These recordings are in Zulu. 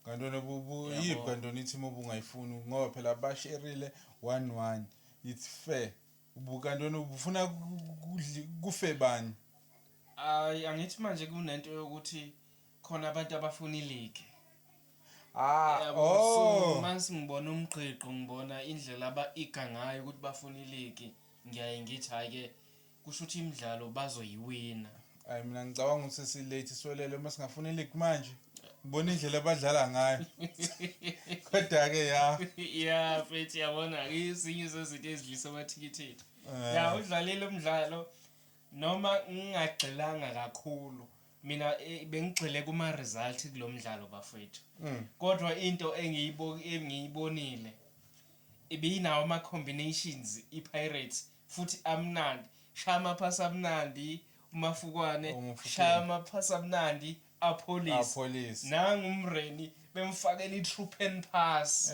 Kantona buyiphi kantona i-team obungayifuni ngoba phela basherile one one it's fair ubukantona ubufuna kufe bani hayi angithi manje kunento yokuthi khona abantu abafuna iligi Ah, oh. Mase ngibona umgqiqo ngibona indlela aba iga ngayo ukuthi bafuna iligi ngiyaye ngithi hayi ke Kushuthi imidlalo bazoyiwina. Hayi mina ngicabanga ukuthi si late swelele uma singafuna ileague manje. Ngibona indlela abadlala ngayo. Kodwa ke ya. Yeah, mfethu yabona ke izinye zezinto ezidlisa amathikithi ethu. Eh. Ya udlalile umdlalo noma ngingagxilanga kakhulu. Mina eh, bengigxile kuma result kulomdlalo bafethu. Mm. Kodwa into engiyibo engiyibonile ibinawo ama combinations iPirates futhi amnandi shaya amaphasi amnandi uMafukwane shaya amaphasi amnandi apholise nangu uMreni bemfakela i-trupen pass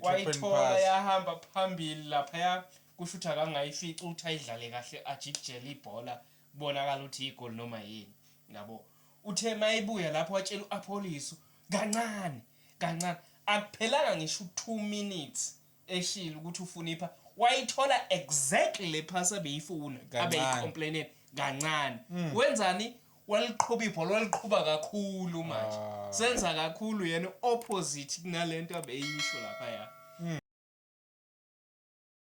wayithola yahamba phambili laphaya kusho ukuthi akangayifici ukuthi ayidlale kahle ajikijele ibhola kubonakala ukuthi igoli noma yini yabo uthe mayibuya lapho watshela u-apholise kancane kancane akuphelanga ngisho u-2 minutes eshilo ukuthi ufuna ipha wayithola exactly le pass abeyifuna Kancane. abeyicomplainela kancane wenzani waliqhuba ibhola waliqhuba kakhulu manje Ah. senza kakhulu yena opposite kunalento abeyisho laphaya